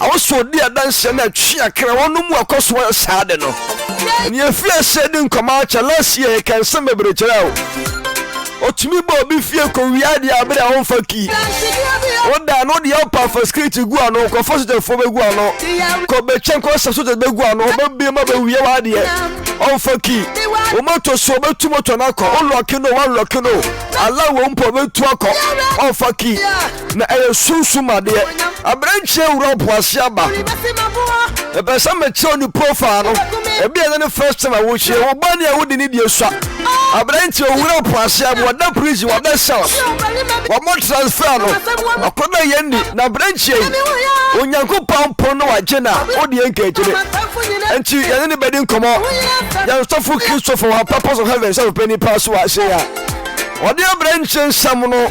Ɛwɔ sɛ ɔdi adanseɛ na ɛtwe akra wɔnom mu ɔkɔ so yɛ saa ade no. Ɛne ɛfiri aseɛ di nkɔmɔ akyɛ last year yɛka nsɛm bebree kyerɛ wo. Ɔtumi ba obi fie kɔ wia adeɛ abere a ɔmfa kii. Woda no deɛ ɔpa fa skiriti gu ano kɔ fa sojafoɔ bɛgu ano kɔ bɛkyɛn kɔ sa soja bɛgu ano ɔbɛbie ma bɛwie w'adeɛ ɔmfa kii. Wo moto so ɔbɛtu moto no akɔ wo lɔki no wa lɔki no ala wo mpo ɔbɛtu akɔ ɔmfa kii. na ɛyɛ sunsum adeɛ. Aberanteɛ wura ɔpoase aba. Mepɛ sɛ mekyerɛw ne profile no. Ebi ɛnyɛ ne first time a wohyia. Wo ba ni a wodi ne deɛ sua. Aberanteɛ owura ɔpoase aba. Wada prison, wada cells. Wɔn transfer no. Akɔda yɛn ni. Na aberanteɛ yi, Onyankopɔn pon no wagye na wodi yɛn nkagyere. Nti yɛne ne bɛdi nkɔmɔ. Yɛn sɔfo Kristofo wɔ purpose of heaven sɛ ɔpɛ nipa so wɔ ase ya. Wɔde aberanteɛ nsɛm no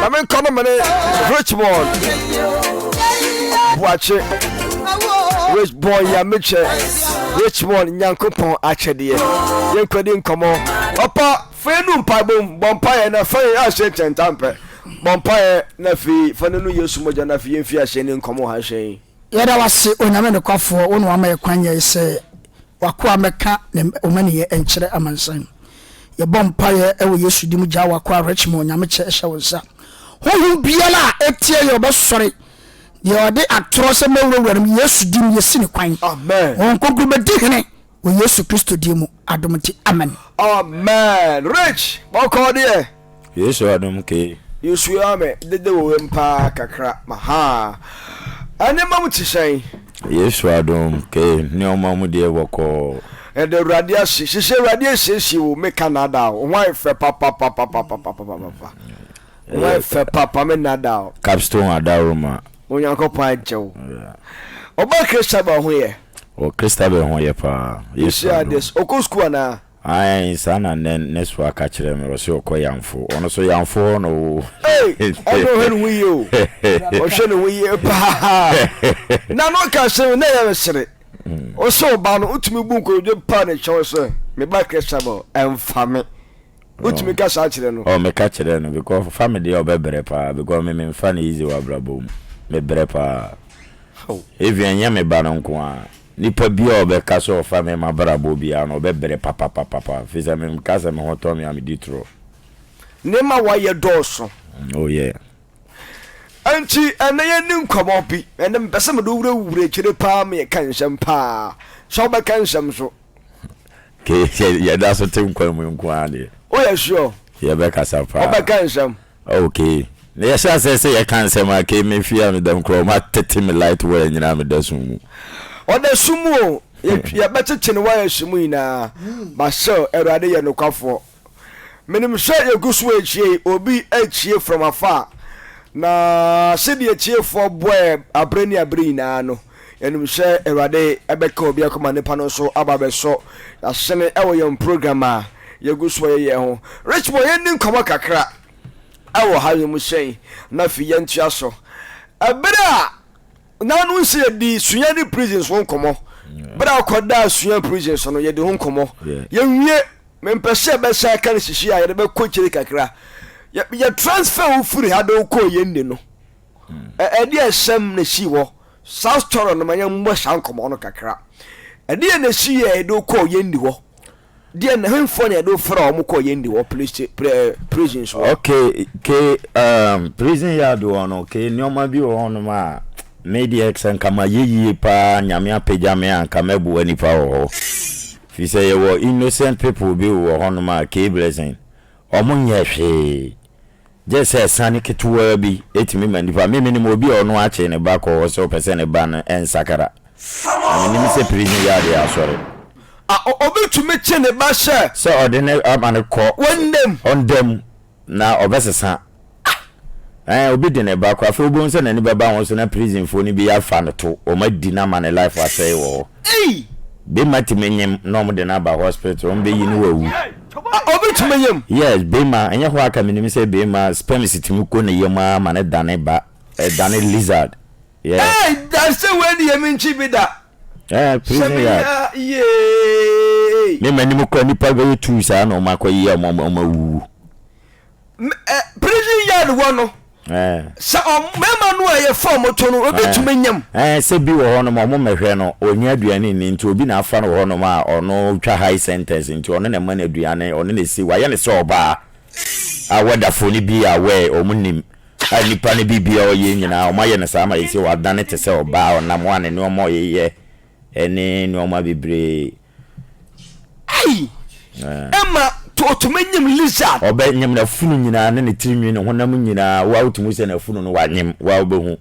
na me nkɔ no mene richmond boakye richbon ya mekyɛ richmond nyankopɔn akyɛdeɛ yɛnkɔdi nkɔmmɔ ɔpa fei nu mpaebom bɔ mpaeɛ na fɛn ahyɛ ntɛntampɛ bɔ mpaeɛ na fei fa no nu yesu mogya na fei yɛmfi ahyɛ ne nkɔmmɔ ha hyɛn Yɛda wo ase, Onyame nokwafoɔ, wo na wama yɛ kwan yɛn sɛ w'akoa mmɛka ne mmaninyɛ nkyerɛ amansan. Yɛbɔ mpaeɛ wɔ Yesu din mu, gyaa w'akoa Richmond, Onyame kyɛ hyɛ wo nsa. Honhom biara a ɛtia yɛ ɔbɛsɔre, deɛ ɔde atorɔ sɛ mɛwurawura no mu, Yesu din mu yɛsi no kwan. Honhom Kronkron bɛdi hene. Wɔ Yesu Kristo din mu, adom nti, amen. Amen rich bɔkɔɔ deɛ. Yesu adom kee. Yesu ya me dede wo wem paa kakra ma haa ɛneɛma mu te sɛn. Yesu adom kee nneɛma mu deɛ bɔkɔɔ. Yɛda awurade ase sese awurade asiesie wo me ka nada o ho ayɛ fɛ papapapapapapapa ho ayɛ fɛ papa me nada o. Capstone Adaroma. Onyankopɔn agye wo. Ɔba Christabel ho yɛ. Wɔ Christabel ho yɛ paa. Yesu Ɔhyɛ adom. ades. Ɔkɔ sukuu anaa? Ae saa na nɛ nɛsfoɔ aka kyerɛ me ɔse ɔkɔ yamfo ɔno so yamfo hɔ na ɔwɔ o Ei! Ɛnde ɔhwɛ ne ho yie o. Ɔhwɛ ne ho yie paa. Na na ɔka asɛm yi na ɛyɛ me sere. Wo sɛ ɔbaa no wotumi bu nkotodwe paa na atwa wo sɛ, Me ba Christabel, ɛmfa me. Wotumi ka saa kyerɛ no? Oh, meka kyerɛ no because ɔfa me deɛ ɔbɛbrɛ paa because me memfa no easy wɔ abrabɔ mu. Mebrɛ paa. Even ɛnyɛ me ba no nko ara, nipa biara a ɔbɛka sɛ ɔfa me m'abrabɔ biara no ɔbɛbrɛ papapapapa firi sɛ meka sɛ me ho tɔ me a medi torɔ. Nneɛma a woayɛ dɔɔso. Oh yeah. Ɛnti ɛnnɛ yɛnni nkɔmmɔ bi. Ɛnnɛ mepɛ sɛ mede wo wurawura akyire paa ma yɛka nsɛm paa. Sɛ wobɛka nsɛm nso. Kei yɛda so te nkwa mu nko ara deɛ. Woyɛ sure? Yɛbɛkasa paa. Wobɛka nsɛm? Oh kei na yɛhyɛ aseɛ sɛ yɛka nsɛm a kei me fie a meda mu koraa wɔn atete me light wire nyinaa meda sum mu. Ɔda sum mu o, yɛbɛkyekye ne wires mu nyinaa but still Awurade yɛ nokwafoɔ. Menim sɛ yɛgu so retie yi, obi retie from afar, na sɛdeɛ tiefoɔ bɔɛ abere ne abere nyinaa no, yɛnim sɛ Awurade bɛka obi akoma nipa no nso aba abɛsɔ yɛasene wɔ yɛn program a yɛgu so yɛ yɛn ho. Richmond, yɛnni nkɔmmɔ kakra wɔ ha, wiemhyɛn, na afei yɛntoa so. Ɛberɛ a Nanom sɛ yɛdi sua ne prison so nkɔmɔ bere a ɔkɔ daa sua prison so no yɛdi ho nkɔmɔ yɛ wie me mpɛ sɛ yɛbɛ san ka ne sisi a yɛde bɛ kɔ kyire kakra yɛ yɛ transfer wo firi ha de wo kɔɔ yɛn ni no ɛ ɛdeɛ ɛsɛm na ɛsii hɔ saa story no ma yɛn mmɔ saa nkɔmɔ no kakra ɛdeɛ na ɛsii yɛ yɛde wo kɔɔ yɛn ni hɔ. Deɛ na hemfoɔ na yɛde wo fra wɔn kɔɔ yɛn de wɔ prison so. okay ke um, prison yard wɔ no ke nneɛma bi wɔ hɔnom a me deɛ sɛ nka ma yɛ yie paa nyame apagya me a nka mɛboa nipa wɔ hɔ fi sɛ yɛwɔ innocent people bi wɔ hɔnom a ke blessing wɔn nyɛ hwee Gye sɛ asiane ketewaa bi tumi ma nnipa. Me, menim obi a ɔno akyere ne ba kɔ hɔ sɛ ɔpɛ sɛ ne ba no nsakra. Na menim sɛ prison yard yɛ asɔre. A, o, obetumi kye ne ba hyɛ. Sɛ ɔde no ama no kɔ. Wɔn nna mu. Wɔn nna mu, na ɔbɛsesa. Ah! Ɛɛ, obi de ne ba kɔ. Afei wobehu sɛ n'ani bɛba ho so na prisonfoɔ no bi afa no to, wɔadi no ama ne life asɛe wɔ hɔ. Ei! Bema timi nyem na ɔmo de no aba hospital ɔmo bɛ yi no wawu. Ah obi timi nyem? Yes bema ɛnyɛ hɔ aka menim sɛ bema sperms timi kɔ ne yam aa ma no dane ba ɛdane lizard yeah. Ei dansa wei deɛ menkyi bi da. Ɛɛ prison yard. Hyɛ me yee. Me manim kora nipa bɛyɛ two saa na ɔmo akɔ yɛ ɔmo ɔmo awuwu. Eh, prison yard hɔ no eh. sɛ mmarima no a yɛfa ɔmo to no obetumi eh. nyam. ɛɛ eh, sɛ bi wɔ hɔnom ɔmo mɛhwɛ no onnya aduane ni nti obi na afa no wɔ hɔnom a ɔno twa high sentence nti ɔno na ɛma no aduane ɔno na esi wayɛ ne sɛ ɔbaa a wɔdafo no bi a wɔɛ ɔmo nim a nipa no bi bia ɔyɛ nyinaa ɔmo ayɛ no saa ma yɛsi wadane te sɛ ɔbaa ɔnam a ne nneɛma ɔyeyɛ ɛne nneɛma bebree Ei! Ɛma otumi nyim lizard. Ɔbɛ nyim na funu nyinaa ne ne tirinwi ne honam nyinaa wa otumi sɛ na funu no wa nyim wa ɔbɛ hu.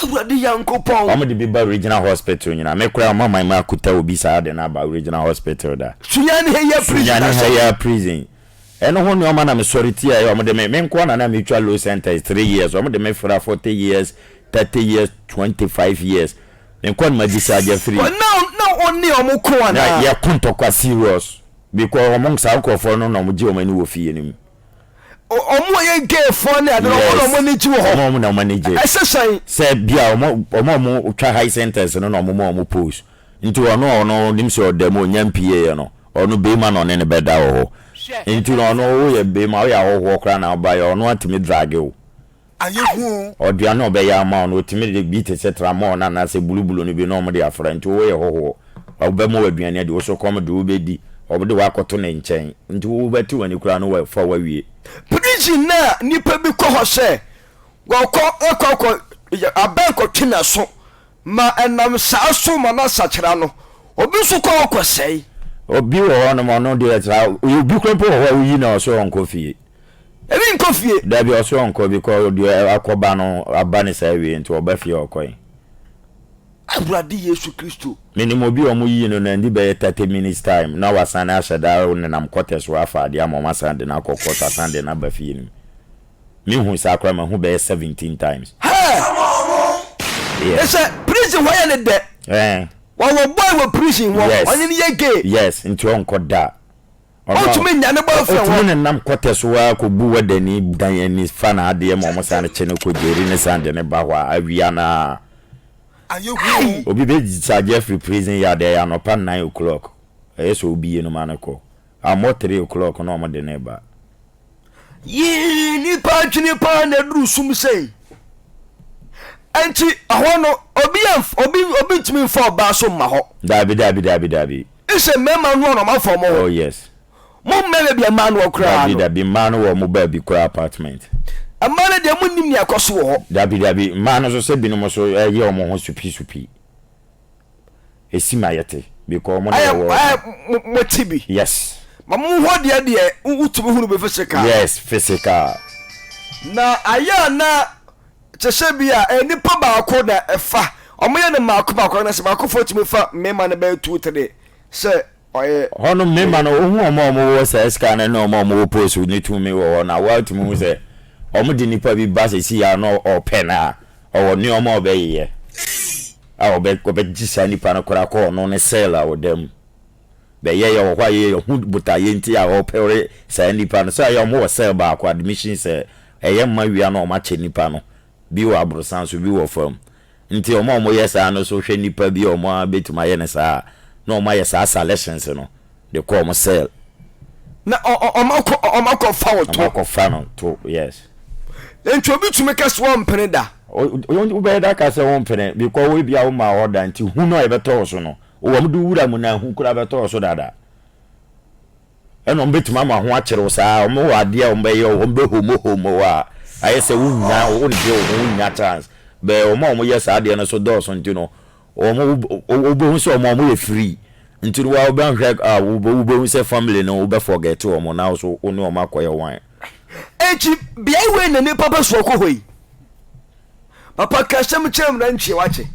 Awurade Nyankopɔn. Wɔn de bi ba original hospital nyinaa me koraa wɔn aman mu akuta obi saa de no aba original hospital da. Sunyani ha yɛ prison. Sunyani ha yɛ prison. Ɛno ho nneɛma na me sɔre ti a ɛyɛ wɔn de me me nkoa na na me twa low sentence three years wɔn de me fira forty years thirty years twenty five years Menkɔ no magyesi agya firi. Wɔn a na ɔne wɔn ko anaa? Na yɛko ntɔkwa serious. Because wɔn saa nkorɔfoɔ no na wɔgye wɔn ani wɔ fie no mu. Wɔn a yɛ gay foɔ ne adeɛ no wɔn na wɔn ani gye wɔ hɔ? Yes, wɔn na wɔn ani gye. Ɛsɛ sɛn? Sɛ bia wɔn a wɔtwa high sentence no na wɔn ma wɔn post. Nti ɔno a ɔno nim sɛ ɔda mu ɔnya mpiieɛ no, ɔno beima na ɔne no bɛda wɔ hɔ. Nti no ɔno woyɛ beima, woyɛ ahɔhoɔ koraa na wobaeɛ a ɔno atumi drage wo. ayɛ hu o. Ɔdua na ɔbɛyɛ ama wo no, wɔtumi de bi te sɛ tramɔɔ no anaasɛ bulubulu no bi na wɔde afra. Nti woyɛ hɔhoɔ, ɔbɛma wo aduane adi, wo so kɔm de wo bɛdi, ɔde wo akɔto ne nkyɛn. Nti wo bɛte w'ani koraa no wafa wo awie. Prison no a nnipa bi kɔ hɔ sɛ wɔkɔ kɔ akɔ yɛ abɛn kɔtwe n'aso ma ɛnam saa so ma no asakyera no, obi nso kɔ hɔ kɔsɛe. Obi wɔ hɔnom ɔno deɛ saa, obi koraa mpo wɔ hɔ a woyi no a ɔsɛ ɔnkɔ fie. Ebi nkɔ fie. Dabi ɔse ɔnkɔ because deɛ akɔba no aba ne saa awie nti ɔba fie a ɔkɔe. Awurade Yesu Kristo. Menim obi a wɔyii no no adi bɛyɛ thirty minutes time na wasane ahyɛ da nenam quarters hɔ afa adeɛ ama wɔasane de no akɔ court asane de no aba fie no mu. Mehu saa koraa mahu bɛyɛ seventeen times. Hɛɛ! Yeah. Ɛsɛ prison hɔ yɛ ne dɛ. Eh. Wɔwɔ boy wɔ prison hɔ Yes. ɔne no yɛ gay. Yes, nti ɔnkɔ da. Ontumi nnya ne boyfriend hɔ. Otumi nenam kɔtɛ so ara kɔbu wadani dan ani fa n'adeɛ ma wɔsane kye no kɔ gyeri ne sane de no ba hɔ a, awia no ara. Ayɛ huu. Obi bɛ discharge afiri prison yard ɛyɛ anɔpa nnan o'clock, ɛyɛ sɛ wobie no ma no kɔ, ammɔ three o'clock na wɔde no reba. Yii nnipa adwene pa ara na aduru sum sei. Enti ɛhɔ no, obi, obi, obi ntumi mfa ɔbaa so mma hɔ. Daabi, daabi, daabi, daabi. Ese mmarima noa na ɔmo afa ɔmo ho. Oh yes. Mo mmaa no deɛ mmaa noa koraa no. Dabi dabi mmaa no wɔ ɔmo baabi kɔ apartment. Mmaa no deɛ mo nnim nea ɛkɔ so wɔ hɔ. Dabi dabi mmaa no so sɛ binom nso ɛyɛ ɔmo ho supi supi. Esi ma yɛte because ɔmo na yɛ wɔ. Ayɛ mo mo te bi. Yes. Ma mo hɔ deɛ deɛ wotumi hunu bi physical. Yes physical. Na ayɛ a na Kyekyɛ bi a ɛyɛ nipa baako na ɛfa, wɔyɛ no mmaako mmaako anaasɛ baakofoɔ tumi fa mmarima no bɛyɛ two three sɛ ɔyɛ. Hɔ nom mmarima no wohu wɔn a wɔwɔ saa sika no ne wɔn a wɔwɔ post ne tumi wɔ hɔ no a woatumi hu sɛ wɔn de nipa bi ba sɛsii a na ɔpɛ no a ɔwɔ nnoɔma a ɔbɛyeyɛ a ɔbɛgye saa nipa no koraa kɔ ɔno ne cell a ɔda mu. bɛyɛ yɛ wɔ hɔ a yɛ yɛ hu botaeɛ nti a wɔ pɛwre saa nipa no sɛ ɛyɛ ɔmo wɔ cell baako admission sɛ ɛyɛ mma wia na ɔmo akyɛ nipa no bi wɔ aborosan so bi wɔ fam nti ɔmo a ɔmo yɛ saa no so hwɛ nipa bi a ɔmo a bɛtumi ayɛ no saa a na ɔmo ayɛ saa salections no de kɔ ɔmo cell na ɔ ɔ ɔmo akɔ ɔ ɔmo akɔ fa wo ɔmo to akɔ fa no to yes. nti obi tumi ka sɛ ɔmpene da. Wo bɛyɛ da aka sɛ wo mpene because wo ebia wo maa order nti hu no a ɛbɛtɔ wo so no Wɔn de wura mu na ehu koraa bɛtɔ so dada. Ɛna wɔbɛtumi ama ho akyere wo saa. Wɔwɔ adeɛ a wɔbɛyɛ wo, wɔbɛhomohomo wo a, ayɛ sɛ wonnya, wonte wo ho, wonnya chance. Bɛɛ wɔn a wɔyɛ saa adeɛ no so dɔɔso nti no, wɔn, wobɛhu sɛ wɔn, wɔyɛ free. Nti no, wo a wobɛhwɛ a, wobɛhu sɛ family no, wobɛ forget wɔn na wo nso wo ne wɔn akɔyɛ one. Enti beae wei na nnipa bɛsoa kɔ hɔ yi. Papa ka asɛm kyerɛ mu na nkyɛ wakye.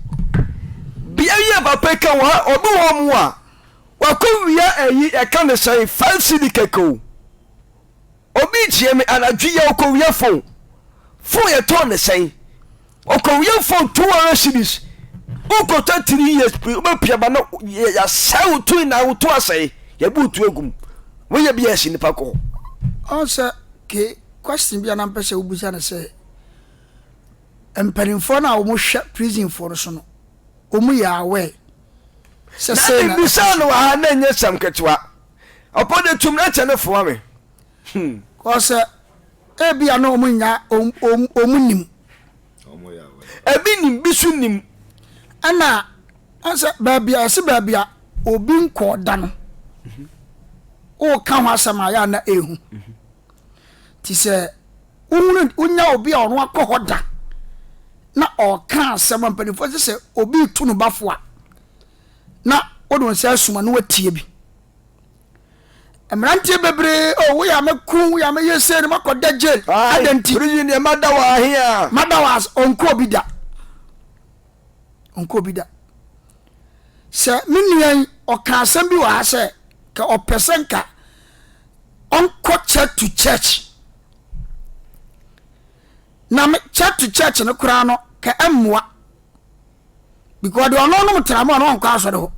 Bia yɛ papa ka wɔ ha ɔbi wɔ mu a wakɔ wia ɛyi ɛka ne sɛn five cd kɛkɛ o. Obi kyerɛ me anadwo yɛ ɔkɔ wia phone. Phone yɛ tɔn ne sɛn. Ɔkɔ wia phone two hundred cds. Wokɔtɔ three years pii wobɛpia ba no yɛasɛe wo to na wo to asɛe yɛbu wo to agum. Woyɛ bi a ɛsi nipa kɔ. Ɔn sɛ ke question bi a na mpɛ sɛ wobisa ne sɛ. Mpanimfoɔ no a wɔn hwɛ prison foɔ no so no wɔn yɛ aware sɛ sei na ɛkɔ so. Na mbisaa no wɔ ha na ɛnyɛ sɛm ketewa ɔpɔ de tum na kyɛ ne foa me hmm. Kɔ sɛ ebi a na wɔn nya wɔn nim. Ebi nim bi so nim. Ɛna ɔsɛ baabi a ɛsi baabi a obi nkɔɔ da no. Wɔka ho asɛm a yɛ a na ehu. Nti sɛ wohunu wonya obi a ɔno akɔ hɔ da na ɔka asɛm a mpanimfoɔ sɛ sɛ obi retu no bafo a na wode wo nsa asuma na watie bi mmeranteɛ bebree o oh, woyɛ a mɛku woyɛ a mɛyɛ sei no makɔda jail adɛn nti mada wo ahe a mada wo ase ɔnkɔ obi da ɔnkɔɔ bi da. Sɛ me nua yi, ɔka asɛm bi wɔ ha sɛ, ka ɔpɛ sɛ nka ɔnkɔ church to church. Na me church to church no koraa no, ka ɛmmoa. Because deɛ ɔno nom tra mu a na ɔnkɔ asɔre hɔ.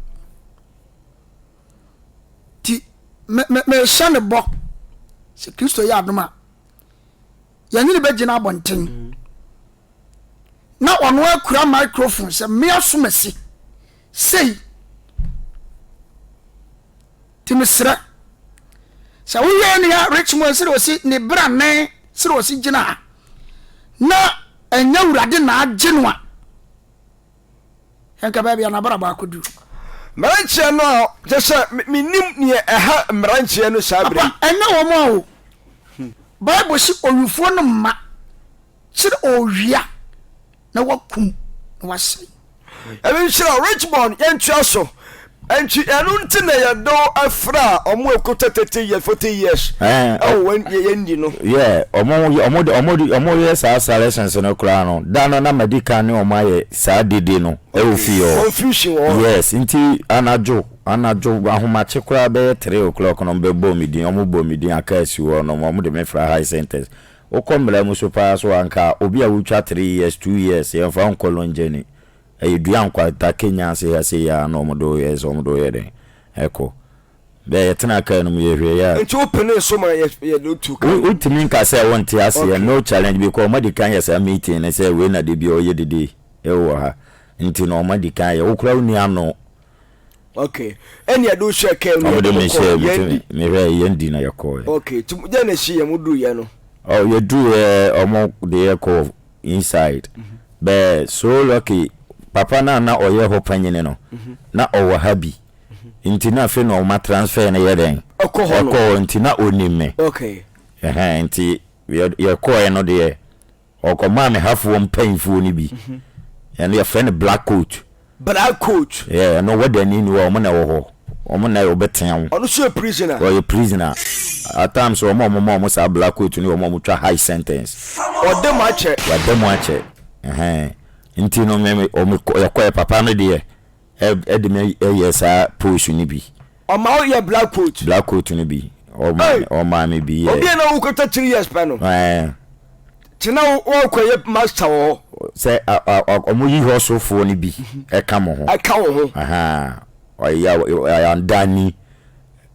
Ti, mehyɛ ne bɔ sɛ Kristo yɛ adom a, Yɛne no bɛgyina abɔnten. Na ɔno ara kura microphone sɛ me asomasi sei. Nti mesrɛ sɛ woyɛ nea Richmond sɛ ɔsi ne bra ne sɛ ɔsi gyina ha na ɛnyɛ awurade na agye no a Nka baabi a n'abrabɔ akodu. Mmeranteɛ no a kyɛ sɛ mennim neɛ ɛha mmeranteɛ no saa berɛ yi. Apa, ɛnyɛ wɔn a o. Bible se owifoɔ no mma kyere owia na wakum na wasɛe. Nyame nhyira wo Richmond yɛntoa so. Nti ɛno nti na yɛde wo afra a ɔmo ɛko tɛ thirty years forty years ɛwɔ wɔn yɛ yɛn di no. Yeah ɔmo yɛ ɔmo de ɔmo de ɔmo yɛ saa seletions no koraa no da no na ma di kan ne ɔmo ayɛ saa dede no ɛwɔ fie hɔ. Confusion wɔ hɔ. Yes nti anadwo anadwo ahomakye koraa bɛyɛ three o'clock no ɔmo bɛ bɔ me din ɔmo bɔ me din aka asi hɔ nom ɔmo de me fra high centers wokɔ mmara mu so paa so a nka obi a wotwa three years two years yɛn fa nkɔ longyani. Ɛyɛ dua nkwata kenyan seyaseyi a na wɔde reyɛ sɛ wɔde reyɛ dɛn? Ɛkɔ. Dɛ yɛtenaa car no mu yɛhwɛɛ yɛ a. Nti wo penee so ma yɛ yɛde wo tuu car no mu? Wo tumi nka sɛ wo nte aseɛ okay. No challenge because wɔn adikan yɛ saa meeting no sɛ wei na da biara wɔyɛ didi wɔ ha nti no wɔn adikan yɛ wo koraa wo nni ano okay ɛni ɛdi hyɛ kɛm ni ɛdi mo kɔ yɛn di mehwɛ yɛn di na yɛ kɔ yɛ okay ti mo yɛn na si yɛn mo duru yɛ no ɔ oh, yɛ duru yɛ ɔmo de yɛ kɔ inside mhm. bɛɛ so lucky papa na na ɔyɛ hɔ panyini no mhm. na ɔwɔ ha bi mhm. nti na afei na ɔma transfer no yɛ dɛn ɛkɔ hɔ nti na onim me okay ɛhɛn nti yɛ kɔ yɛ no deɛ. Ɔkɔmaa ne hafoɔ mpaninfoɔ no bi, ɛno yɛfrɛ no black coat. Black coat. Yeah, ɛno wɔdani ni hɔ, wɔn na ɛwɔ hɔ, wɔn na wɔbɛtea wo. Ɔno nso yɛ prisoner. Ɔyɛ prisoner. At times wɔn a wɔma wɔn saa black coat no yɛ wɔn a wɔtwa high sentence. Wɔada mu akyɛ. Wɔada mu akyɛ, ɛhɛn. Nti no me me wɔn kɔ yɛkɔɛ papa no deɛ Ɛde me yɛ saa pose no bi. Ɔma wo yɛ black coat. Black coat no bi. Ɔma me bi yɛ. Obi a na wo kɔtɔ three years pɛ no. Ɛɛ. Kyena wɔkɔ yɛ master wɔ hɔ. Sɛ ɔmo yi hɔ sofoɔ no bi ɛka mo ho. Ɛka wo ho. Ɔyɛ ɔdani.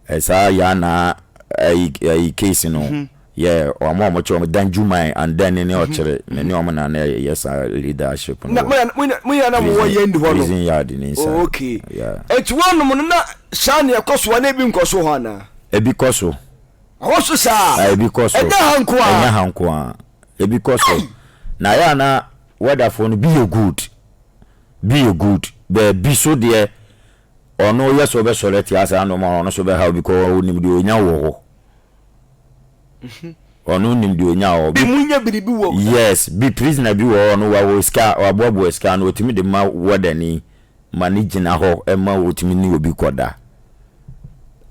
Ɛsaa yɛ anaa ɛyi case no. Yɛ wɔn a wɔkyerɛ wɔn dan dwuman and then ne ɔkyere me ne wɔn na na yɛ saa leadership no wɔ prison yard ne nsa yeah. Eti wɔn nom no na saa na ɛkɔ so anaa ebi nkɔ so hɔ anaa. Ebi kɔ so. Ɛwɔ so saa. Ebi kɔ so. Ɛnyɛ ha nko a. Ɛnyɛ ha nko a. Ebi kɔ so. Na ayɛ ana wɛdafoɔ no bi yɛ good bi yɛ good baabi so deɛ Ɔno yɛ sɛ ɔbɛsɔre atia saa nnoɔma no, ɔno nso bɛhaw because ɔnim deɛ ɔnya wɔ hɔ. Ɔno nim deɛ ɔnya wɔ hɔ. Bi mu nya biribi wɔ hɔ. Yes, bi prisoner bi wɔ hɔ no wawɔ sika, waboaboa sika no, ɔtumi de ma warder ni ma no gyina hɔ ma ɔtumi ne obi kɔda.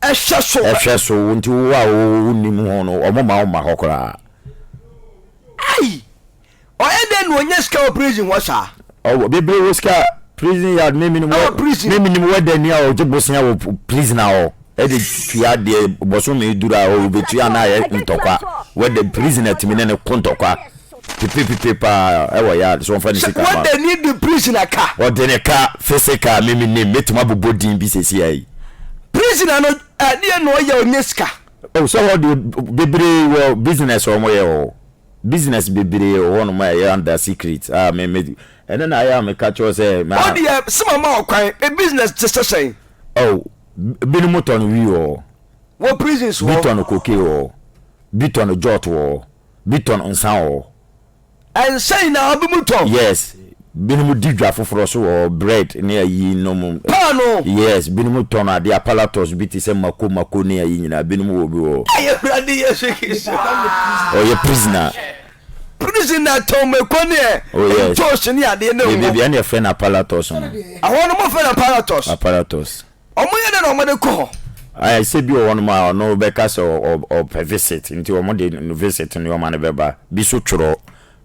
Ɛhwɛ so. Ɛhwɛ so, nti wo a wo nim ho no, wɔn ma wo ma hɔ koraa. Ai! Ɔyɛ dɛn na onya sika wɔ prison hɔ saa? Ɔwɔ bebree wɔ sika prison yard me menim wɔ prison me menim wɔ dani a ɔgye bosea wɔ prison a ɔ ɛde tua deɛ bɔsome duru a ɔ ɔbɛtua anaa yɛ ntɔkwa wɔ dɛ prison atumi ne ne ko ntɔkwa pipi pipi paa ɛwɔ yard so ɔmfa ne sika ma wɔ dani de prison aka ɔde ne ka physical me menim mɛtumi abobɔ din bi sɛsi ayi prison ano ɛdeɛ na ɔyɛ ɔnya sika. Oh sɛ hɔ deɛ bebree wɔ business ɔmo yɛ ɔ. Business bebree wɔ hɔnom a ɛyɛ under secret a me me ɛno na ayɛ a meka kyerɛ wo sɛ ma. Wo deɛ sɛ mama wo kwan, me business te sɛ sɛn? Oh, binom tɔn wii wɔ hɔ. Wɔ prisons hɔ. Bi tɔn cocaine wɔ hɔ. Bi tɔn jot wɔ hɔ. Bi tɔn nsa wɔ hɔ. Nsa nyinaa binom tɔn? Yes. Binom di dwa foforɔ so wɔ hɔ, bread ne ayi nom. Paano! Yes, binom tɔn adeɛ apparatus bi te sɛ mako mako ne ayi nyinaa, binom wɔ bi wɔ hɔ. Ayi Awurade Yesu Kristo aa! Oh yɛ prisoner. Prisoner tɔn mako ne ɛ, Oh yes. ntoosi ne adeɛ ne ngo. Yɛ bia ne yɛ frɛ no apparatus no. Ɛhɔ no mo frɛ no apparatus. Apparatus. Ɔmo yɛ dɛ na ɔmo de kɔ hɔ? Ayɛ sɛ bi wɔ hɔ nom a ɔno ɔbɛka sɛ ɔ ɔ ɔpɛ visit nti ɔmo de visit nnoɔma no bɛba, bi so twerɔ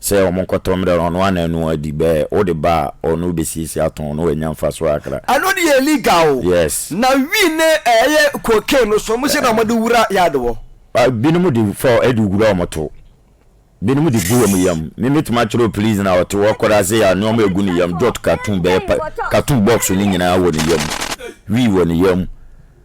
sɛ ɔmo nkɔtɔ mmerɛ no ɔno ana ɛno adi bɛɛ wode ba a ɔno bɛsiesie atɔn na wanya mfasoɔ kakra. Ɛno deɛ illegal o. Yes. Na wii ne ɛyɛ cocaine no so ɔmo se na ɔmo de wura yard hɔ. Binom de fa de wura ɔmo to. Binom de gu ɔmo yam. Me mɛtumi akyerɛ wo please na ɔte hɔ koraa sɛ yɛ nnoɔma ɛgu ne yam dot cartoon bɛyɛ cartoon box no nyinaa wɔ ne yam. Wii wɔ ne yam.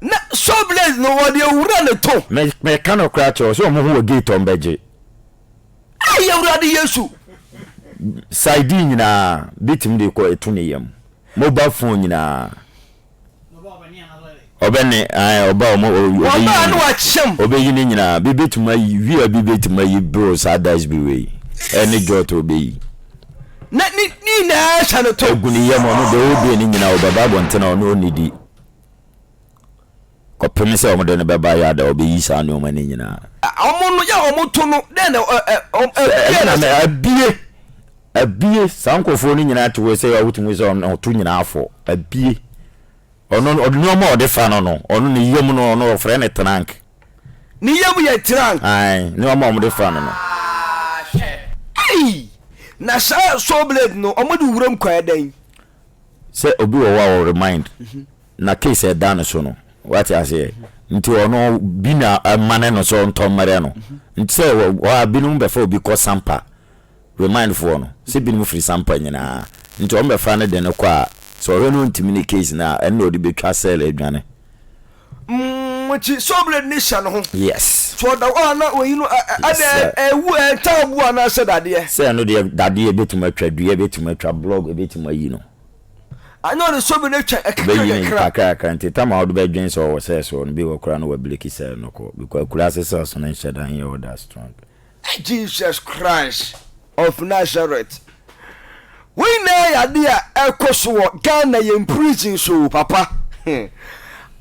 na show blaze no wɔde awura ne to. Me meka no koraa kyerɛ sɛ wɔn ho wɔ gate wɔn bɛgye. Ayi awurade yesu. Side nyinaa bi tumi de kɔ etu ne yam mobile phone nyinaa. Ɔbɛ ne ɛɛ ɔba wɔn ɔbɛ yi ne nyinaa ɔbɛ yi ne nyinaa bi betuma yi wia bi betuma yi bro saa dice bi wei ɛne jɔt ɔbɛ yi. Na ne nyinaa twa no to. Egu ne yam, ɔno deɛ ɔredue no nyinaa ɔbɛba abɔnten a ɔno ɔnnidi kɔpem sɛ wɔde no bɛba yard a ɔbɛyi saa nnoɔma no nyinaa. Wɔn no yɛ a wɔto no dɛn na ɛ ɛ wɔn Sɛ ɛno abie na no mɛ sɛ. abie, abie, saa nkorɔfoɔ no nyinaa te wei sɛ yɛ a wotumi sɛ wɔn ɔto nyinaa fɔ, abie. Ɔno no, ɔde nnoɔma a ɔde fa no no, ɔno ne yam no ɔno wɔfrɛ no trunk. Ne yam yɛ tirank. Ae, ne wɔn a wɔde fra no no. Aa, hwɛ. Ei! Na saa saw blade no, wɔde wuram kɔ ayɛ dɛn? Sɛ obi wɔ hɔ a wɔ remind na case a ɛda ne so no, wate aseɛ, nti ɔno bi na ɛmane no sɛ ɔntɔ mmrɛ no. Nti sɛ wɔ hɔ a binom bɛfa obi kɔ sampa remind foɔ no sɛ binom firi sampa nyinaa nti wɔn bɛfa ne de no kɔ a sɛ ɔhwɛ no ɔntumi ne case no a ɛno na ɔde bɛtwa cell adwane. Mokyi sɔbere ne hyɛ no ho. Yes. Sɛ ɔda hɔ a na wɔyi no ɛ ɛ adɛn Sɛ. ɛwu ɛ ntaaboɔ anaa sɛ dadeɛ. Sɛ ɛno deɛ dadeɛ ɛbɛtumi atwa dua ɛbɛtumi atwa blog ɛbɛtumi ayi no. Anyɛ ɔde sɔbere no atwa ɛ kakra Ɔbɛyi no kakra. kakra kakra nti tam a wode bɛdwen sɛ ɔwɔ cells hɔ no bi wɔ koraa na wabreki cell no kɔ because akuraase cells no nhyɛ da nyɛ all that strong. Jesus Christ of Nazareth wei nyinaa yɛ ade a ɛkɔ so wɔ Ghana yɛn prison so o papa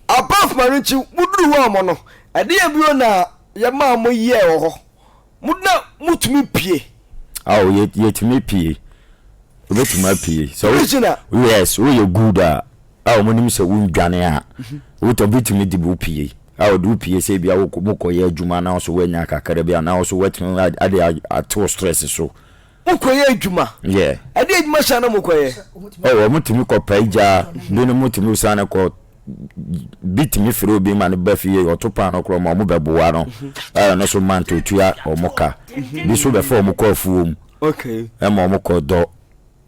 above ma no nti moduru hɔ ɔmo no ɛdeɛ bio na yɛmaa mo yɛɛ wɔ hɔ mo na motumi pie ao yɛtumi pie wobɛtumi apie sɛ prisoner yes woyɛ good a a wɔnim sɛ wondwane a, wotɔ bi tumi de wo pue, a wɔde wo pue sɛ ebia wokɔ mokɔyɛ adwuma na nso woanya kakra bi a na nso woatumi ade ate wo stress so. Mokɔyɛ adwuma? Yeah. Ɛdeɛ adwuma hyɛ na mokɔyɛ? Oh, wɔn tumi kɔ paa gya, binom tumi san kɔ bi tumi firi obi ma no ba fie ɔto paano korɔ ma wɔn bɛboa no ɛyɛ no so mant otua wɔn ka bi so bɛfa wɔn kɔ afuo mu ɛma wɔn kɔ dɔ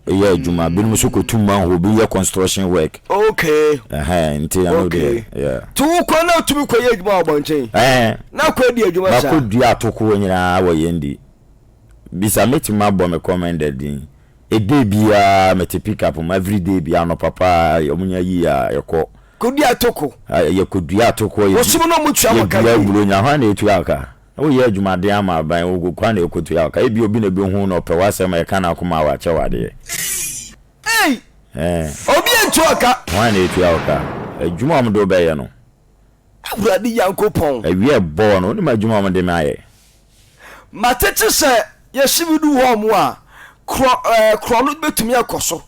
yɛ adwuma binom nso kɔ tu manhole obi yɛ construction work. okay ɛhɛn nti ɛno okay. deɛ yeah. to wokɔ na otumi kɔ yɛ adwuma wɔ abɔnten ɛhɛn na kɔ adi adwuma saa bakɔ dua atokoɔ nyinaa wɔ yɛn di bisa mɛtumi abɔ me commended din ɛdɛ biara mɛte pick up mu everyday biara anɔpa paa ɔmo nya yi a yɛkɔ kɔ dua atoko yɛkɔ dua atokoɔ yɛkɔ dua aburo nya hwan na ɛtua aka. Na woyɛ adwumaden ama aban, wo kwan na ɛkɔtua wo ka. Ebia obi na ɛbɛhu wo na ɔpɛ w'asɛm a ɛka n'akoma a wakyɛ wo adeɛ. Ei! Ei! Obi antua wo ka. Hwan na ɛtua wo ka? Adwuma a wɔde wo bɛyɛ no. Awurade Nyankopɔn. Awia ɛbɔɔ no, wonim adwuma a wɔde me ayɛ. Matete sɛ Yɛsi bi du hɔ mo a, korɔ ɛɛ korɔ no betumi akɔ so.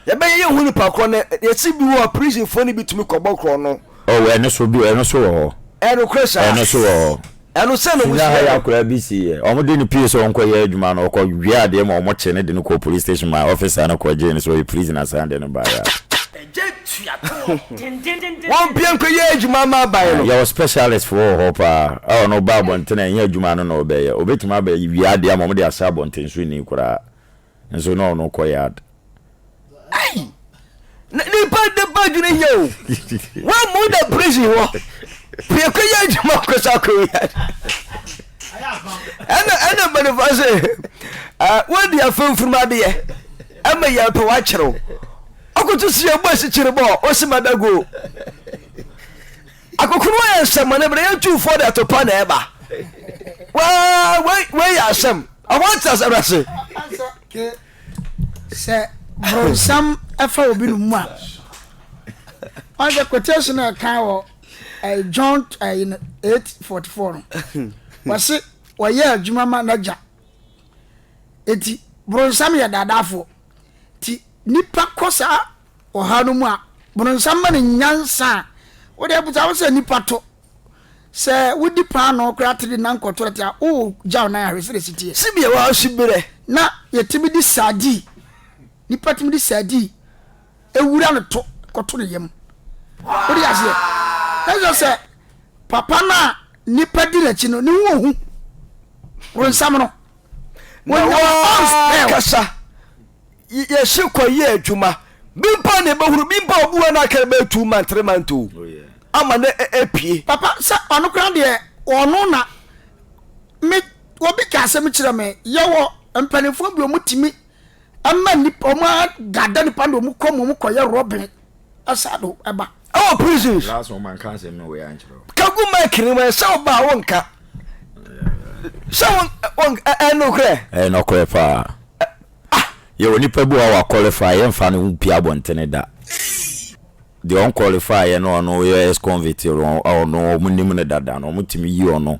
Yɛbɛyɛ yɛn ho nipa korɔ no, yɛsi bi wɔ hɔ a prison foɔ no bi tumi kɔ bɔ korɔ no. Oh ɛno so bi ɛno so wɔ hɔ. Ɛyɛ nokorɛ saa. Ɛno so wɔ hɔ. Ɛno sɛ na wɔsi yɛ no. Sunyani ha akwadaa bi si yɛ, wɔn de no pue sɛ ɔnkɔ yɛ adwuma no, ɔkɔ wia adeɛ ma wɔn kye no de no kɔɔ police station ma officer no kɔ gyee no sɛ ɔyɛ prisoner san de no baeɛ a. Wɔn mpia nkɔ yɛ adwuma mma aban no. Yɛwɔ specialist foɔ wɔ hɔ paa a ɔno ɔba abɔnten a ɛnyɛ adwuma ano na ɔbɛyɛ. Ɔbɛtumi aba wie adeɛ ama wɔde asɛ abɔnten so nni koraa nso na ɔno kɔ yard. Ei! Na nipa de ba adwene hia o. Wɔn mu da prison hɔ pia kɔ yɛ adwuma kɔ sa kɔ yard. Ɛna ɛna mpanimfoɔ se, ah, wɔn deɛ afɛn mfunumu adeɛ ɛma yɛn pɛ wɔakyerɛw. Ɔkoto si yɛn bɔ asikyere bɔ osi ma da go. Akokoro ayɛ nsɛmmɔne bere yɛn tuufoɔ de ato pa na ɛba. Wei wei yɛ asɛm. Ɔwɔ ate asɛm ase. Sɛ bronsam ɛfa obi no mu a. Wɔn sɛ quotation a ɛka wɔ ɛyɛ John ɛyɛ no eight forty four no. Wɔsi wɔyɛ adwuma ma n'agya. Eti bronsam yɛ daadaafoɔ. Nti nipa kɔ saa ɔhaw no mu a, boronsam ma no nyansa a wode abusa wo sɛ nipa to. Sɛ wodi paanoo koraa te de nan kɔ tɔlɛt a, wogyaw nan ahwɛ sɛdeɛ ɛsi teɛ. Sibea wɔ hɔ si berɛ na yɛtumi de saadii, nipa tumi de saadii wura no to kɔto ne yam. Wode aseɛ? Na kyerɛ sɛ papa no a nipa di n'akyi no, ne ho ɔhu boronsam no. na wɔn kasa yɛsi kɔ yɛ adwuma bi mpo na ebɛhuru bi mpo obi wɔ no akɛrɛ bɛyɛ two month three month o oh, ama no apue e, papa sɛ ɔno kora deɛ ɔno na me obi ka asɛm kyerɛ me yɛwɔ mpanimfoɔ bi ɔmotumi ɛma nipa ɔmo adada nipa na ɔmo kɔ mu ɔmo kɔyɛ rɔbin ɛsa do ɛba. Ɛwɔ prisons. Last one man can't say no way and chiro. Kagu mic ni man sɛ ɔba a wonka. Sɛ won won ɛɛ no korɛ. Ɛɛ no korɛ paa. Ah. Yɛ wɔ nipa bi wa wa qualify yɛ nfa no ho pia bɔntene da. Deɛ ɔn qualify yɛ no ɔno yɛ ex convict ɔno ɔmo nim no dada no ɔmo tumi yi ɔno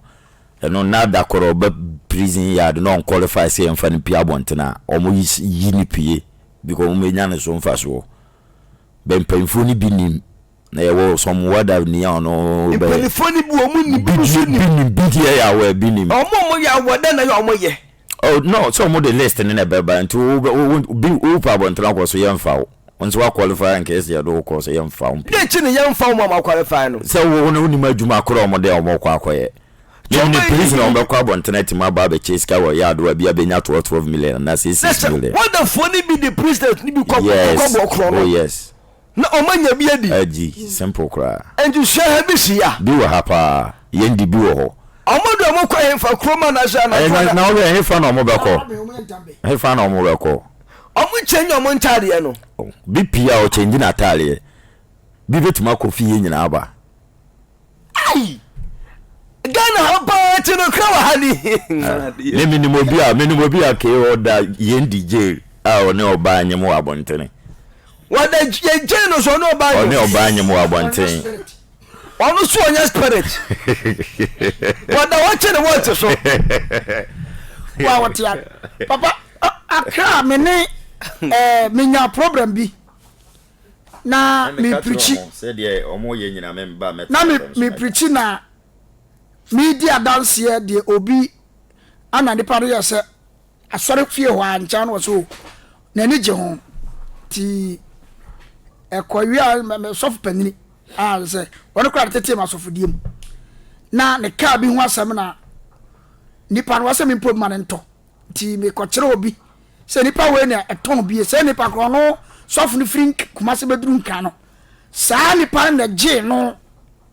ɛno na da korɔ ɔba prison yard na ɔn qualify sɛ yɛ nfa no pia bɔntene a ɔmo yi ne pie because ɔmo bɛ nya ne so nfa soɔ. bɛ mpanyimfoɔ no bi nim na yɛwɔ some word of ni a ɔno bɛ mpanyimfoɔ no bi wɔn nim bi nso nim bi nim bi deɛ yɛ awɔ bi nim wɔn a wɔn yɛ awɔ dɛ na yɛ wɔn yɛ. oh no sɛ wɔn de list no na ɛbɛ ba nti wo bɛ wo bi wo pa abɔnten akɔ so yɛn fa wo nso wa qualify in case yɛ do kɔ so yɛn fa wo mpɛ. dɛ kyi na yɛn fa wɔn a wɔn qualify no. sɛ wo na wo nim adwuma korɔ wɔn dɛ wɔn kɔ akɔ yɛ. Nyim ne police na wɔbɛkɔ abɔnten atim aba abɛkyɛ sika wɔ yard hɔ a bi a benya twelve twelve million anaa six six million. Na sɛ wardenfoɔ no bi de president no bi kɔ kɔbɔ korɔ no. Yes oh yes. Na wɔn anya bi adi. Adi simple koraa. Nti sua ha bi si ya. Bi wɔ ha paa yɛn de bi wɔ hɔ. Wɔn de wɔn kɔ hefa kurom anaa sɛ anadwo anaa. Na wɔn hefa na wɔn bɛkɔ hefa na wɔn bɛkɔ. Wɔn change wɔn ntaadeɛ no. Bi pii a ɔchange n'ataadeɛ bi betumi akɔ fie nyinaa aba. Ai! Ghana ha paa ti no kra wɔ ha ni. Ne menim obi a menim obi a kee ɔda yɛn di jail a ɔne ɔbaa nyem wɔ abɔntene. Wɔda yɛn jail no so ɔne ɔbaa nyem. Ɔne ɔbaa nyem wɔ abɔntene. Ɔno so ɔnyɛ spirit. Wɔda hɔ kye ne wɔte so. Wa wɔte a papa akra me ne eh, menya problem bi. na meprikyi, na meprikyi na meredi adanseɛ deɛ obi ana nipa no yɛ sɛ asɔre fie hɔ a nkyɛn no wɔ so n'ani gye ho ti ɛkɔ wie a sɔfo panyini a sɛ wɔn kora de tete ma sɔfodie mu na ne kaa bi ho asɛm na nipa no wɔsɛ me mpɔ bi ma ne ntɔ nti mekɔkyerɛ obi Sɛ nipa wei na ɛtɔn bie, saa nipa korɔ no sɔfo no firi Kumase bɛduru Nkran no, saa nipa no na ɛgyee no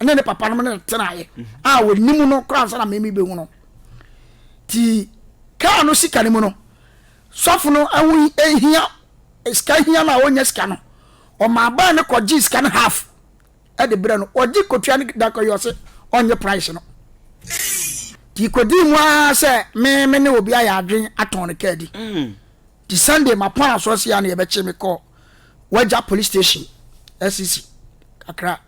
ne ne papa nom ne tenaeɛ a wɔnim no koraa nsa na meme bɛhu no. Nti kaa no sika no mu no, sɔfo no ho hia sika hia no a ɔnya sika no, ɔmaa baa no kɔgyee sika no half de brɛ no ɔgye kɔtua no da kɔ yi ɔse ɔnye price no nti kɔdii mu ara sɛ me me ne obi ayɛ adwen atɔn no kaa di mm. nti sunday mapɔn asoɔ se a ne yɛbɛkye me kɔ wagya police station asisi e kakra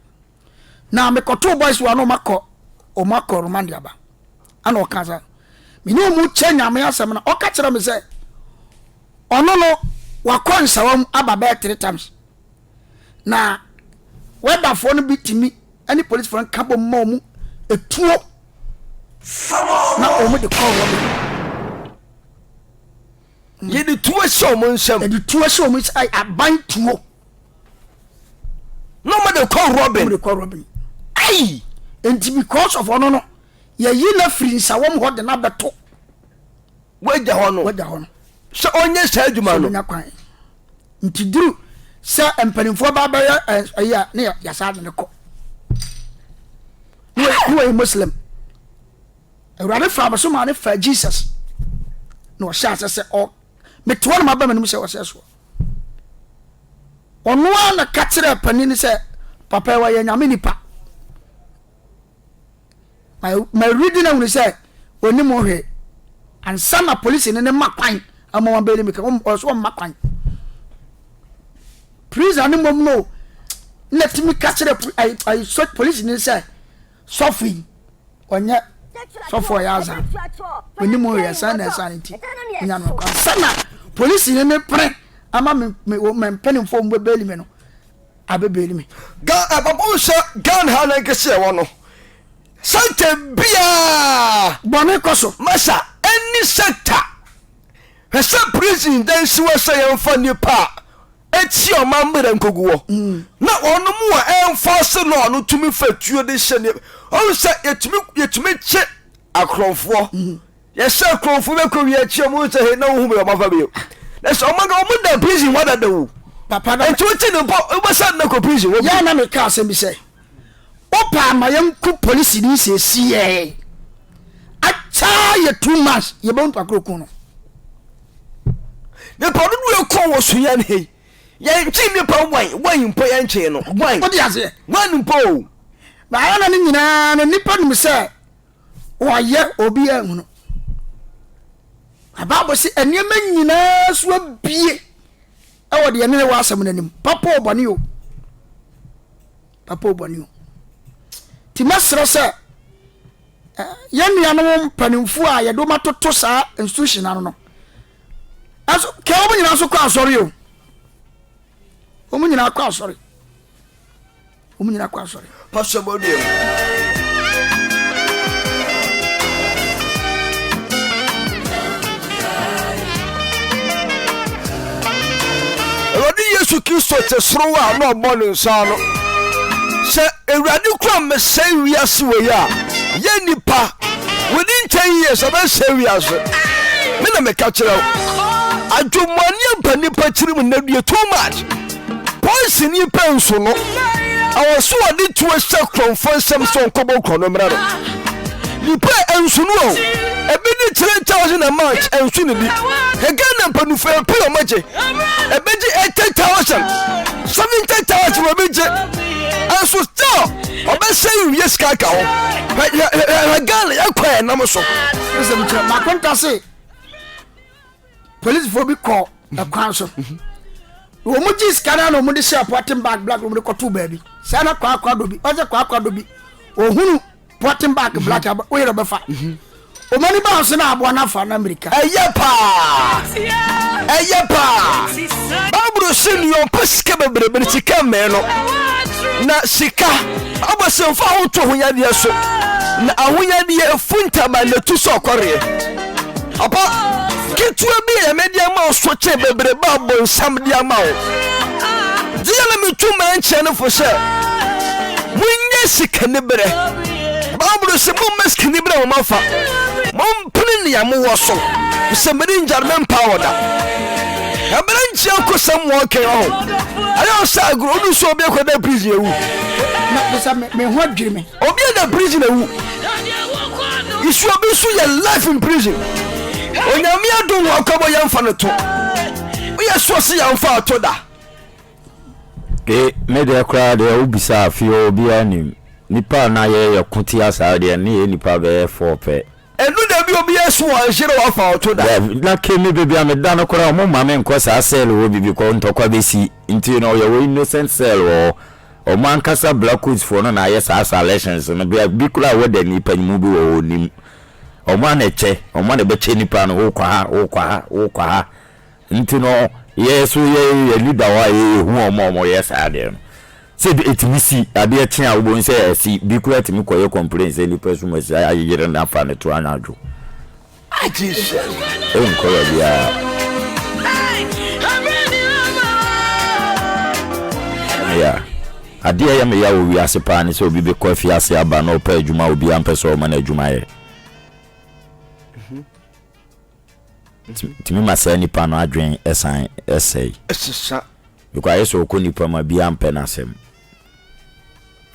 na mekɔtoo boys wa no ɔmakɔ ɔmakɔ romande aba ana ɔka sa mene ɔmu kyɛ nyame asɛm na ɔka kyerɛ me sɛ ɔno no wakɔ nsawa mu aba bɛɛ three times na wɛbafoɔ no bi tumi ne polisifoɔ no ka bom ma wɔn etuo na wɔn de kɔɔ hɔ no. yɛde tuo hyɛ wɔn nsam. yɛde tuo hyɛ wɔn nsam aban tuo. na wɔn de kɔ robin. wɔn de kɔ robin. ayi nti because of ɔno no yɛyi na firi nsawam hɔ de na bɛto. w'agya hɔ no w'agya hɔ no sɛ ɔnyɛ saa adwuma sɛ no. ɔbɛnya kwan nti duru sɛ mpanimfoɔ ba bɛyɛ ɛ- ɛyi a ne yɛ- yɛsaa de ne kɔ ne wɔ- ne wɔyɛ muslim awurade faa me so maa ne faa jesus na ɔhyɛ asɛ sɛ ɔ metoa no maba m'anim sɛ ɔsɛ soɔ ɔno a na ka kyerɛ panin no sɛ papa yi wɔyɛ nyame nipa Mawuridi no ahunu sɛ ɔnim ho hwee ansa na polisini no ma kwan ama wɔabɛyɛ no mmirika. Wɔn ɔyɛ so wɔmma kwan. Prison no mmom no na tumi ka kyerɛ polisini no sɛ sɔfo yi ɔnyɛ sɔfo ɔyɛ azan ɔnim ho hwee ɛsan na ɛsan nti nya no kwan ansa na polisini no pere ama me me mpanimfoɔ mu bɛbɛli me no abɛbɛn me. Ga ɛ papa nhwɛ Ghana ha na nkesi ɛwɔ no sɛntɛ biaa. Bɔne kɔ so. Masa ɛnni sɛnta hwɛ sɛ prison dɛ nsi wɔ sɛ yɛn fa nipa a ɛtia ɔman mmerɛ nkogu wɔ na wɔn mu a ɛnfɔse law no tumi fa tuo de hyɛ nipa ɔn sɛ yɛtumi yɛtumi kye akorɔnfoɔ. Yɛ sɛ kuro fo bɛ kɔ wia kyi ɔmo hu sɛ hee na wo hu bɛ ɔmo afa bio na sɛ ɔmo ɔmo da prison hɔ adada wu papa na nti wo ti ne bɔ wo bɛ sa na kɔ prison hɔ bio. Yɛ na me ka asɛm bi sɛ wo paa ma yɛ nku polisi ni sɛ si yɛ ataa yɛ two months yɛ bɛ npa kuro kun no. Nipa dodo yɛ kɔ wɔ so yɛn hei yɛ nkyi nipa wan wan mpo yɛ nkyi no wan wan mpo. Baayɛ na ne nyinaa no nipa nim sɛ. Ɔayɛ, obiara nnhu no. Na Bible se, nneɛma nyinaa so abue wɔ deɛ ɛne ne wɔ asɛm no anim. Papa o bɔne o. Papa o bɔne o. Nti mɛserɛ sɛ, yɛn nuanom mpanimfoɔ a yɛde wɔn atoto saa institution ano no, ɛso kɛ wɔn nyinaa nso kɔ asɔre o. Wɔn nyinaa kɔ asɔre. Wɔn nyinaa kɔ asɔre. Pastor Boduam. awurade yesu kristo te soro wɔ a na ɔbɔ ne nsa no sɛ awurade kura mesɛe wiase wei a yɛ nnipa wodi nkyɛn yie sɛ bɛsɛe wiase me na meka kyerɛ wo adwemmɔne aba nnipa tirim nnadue too much Poison yi pɛ nso no, ɛwɔ sɛ ɔde tuo hyɛ korɔmfoɔ nsam sɛ ɔnkɔbɔ korɔ no mmrɛ no. Nipa a ɛnso no o, ebi de 3000 a match ɛnso ne bi. Hwɛ Ghana mpanyinfoɔ yɛ pii a wɔgye. Ɛbɛgye 80000, 70000 na ebi gye. Ɛnso still ɔbɛsɛ nwie sika aka ho. Hwɛ hwɛ hwɛ Ghana yɛkɔ yɛn nam so. Ɛsɛ mi kyerɛ, Makonta se. polisifo bi kɔ ɛkwan so wɔn mu gye sika na wɔn de hyɛ pɔtin bag black wɔn de kɔto baabi saa na kwaakwa do bi ɔsɛ kwaakwa do bi ohunu pɔtin bag mhm. black aba oyɛ ɔbɛfa mhm. wɔn ani ba ɔsɛ na aboa n'afa na mirika. ɛyɛ paa ɛyɛ paa baaburo si nea ɔpɛ sika bebrebe sika mmɛn no na sika ɔbɛ sɛ nfa ahoto ho yadeɛ so na ahoyadeɛ efu ntama na etu sɛ ɔkɔreɛ. Papa, ketewa bi yɛ me de ama wo so kye bebrebe a bonsam de ama wo. Deɛ na metu ma nkyerɛ no fo sɛ, monyɛ sikaniberɛ. Bible sɛ mommɛ sikaniberɛ wɔn afa. Mompene nea mowɔ so. Sɛ mede ngya no mempa wɔ da. Ɛbɛrɛ nkyia nkosɛm wɔ ɔkɛ wɔ ho. Ayɛ ɔsɛ agorɔ, ɔdu so obi akɔda prison awu. Na sɛ me ho adwiri me. Obi anya prison awu isu obi nso yɛ life in prison onyame adum hɔ akɔbɔ yɛn fa no to woyɛ soɔ se yɛn fa ato da. e me deɛ koraa deɛ wo bisa afeɛ obiara nim nipa na yɛ yɛ ko tia saa deɛ ne yɛ nipa bɛyɛ four pɛ. Ɛno na ɛbi obi ɛso wɔ nhyere wɔ afa ɔto da. Dev, na kemi baby a me da no koraa ɔmo mma me nkɔ saa cell hɔ bi bikɔ ntɔkwa bɛsi nti no ɔyɛ wɔ innocent cell wɔ hɔ ɔmo ankasa black coats foɔ no na ayɛ saa salections no bia bi koraa wɔ da nipa nyimu bi wɔ hɔ ɔnim ɔmo ana ɛkyɛ ɔmo ana ɛbɛkyɛ nipa no wokɔ ha wokɔ ha wokɔ ha Nti no yɛn so yɛ yɛ leader hɔ a yɛ yɛ hu ɔmo a ɔmo yɛ saa adeɛ no sɛ ɛtumi si adeɛ kye a wobɔ hu sɛ asi bi koraa tumi kɔ yɛ complain sɛ nipa sum asi ayere no afa no to anadwo ah Jesus ɛnkɔ baabi a. ya adeɛ yɛ meya wɔ wiase paa ne sɛ obi bɛkɔ afiase aba na ɔpɛ adwuma obi ampɛ sɛ ɔma no adwuma yɛ Tumi ma saa nipa no adwene san sɛe. Sesa. Because ayɛ sɛ ɔkɔ nipa mu a biaa mpɛ n'asɛm.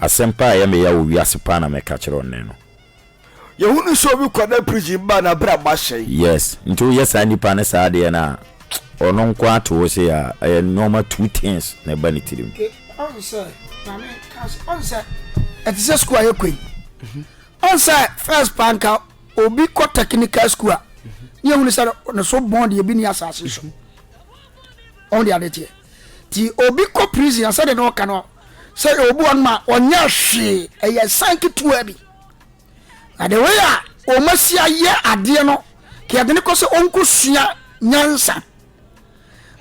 Asɛm paa a ɛyɛ me ya wɔ wiase paa na mɛka kyerɛ wo nnɛ no. Yɛhunu sɛ obi kɔda prison ba a n'abrabɔ asɛe. Yes, nti woyɛ saa nipa no saa adeɛ no a, ɔno nko ara te hɔ sei a, ɛyɛ nnoɔma two things na ɛba ne tirim. Okay, ɔhu sɛ, Maame, kaa sɛ, ɔhu sɛ ɛte sɛ sukuu a yɛkɔ yi, ɔhu sɛ first paa nka, Obi kɔ technical school a ne ehunu sɛ ne so bɔn deɛ ebi ni asase so ɔn de ade teɛ ti obi kɔ prison a sɛdeɛ na ɔka no sɛ obi wɔn ma ɔnyɛ hwee ɛyɛ san ketewa bi na de wei a wɔn asi ayɛ adeɛ no kɛ yɛde ne kɔ sɛ ɔnko sua nyansa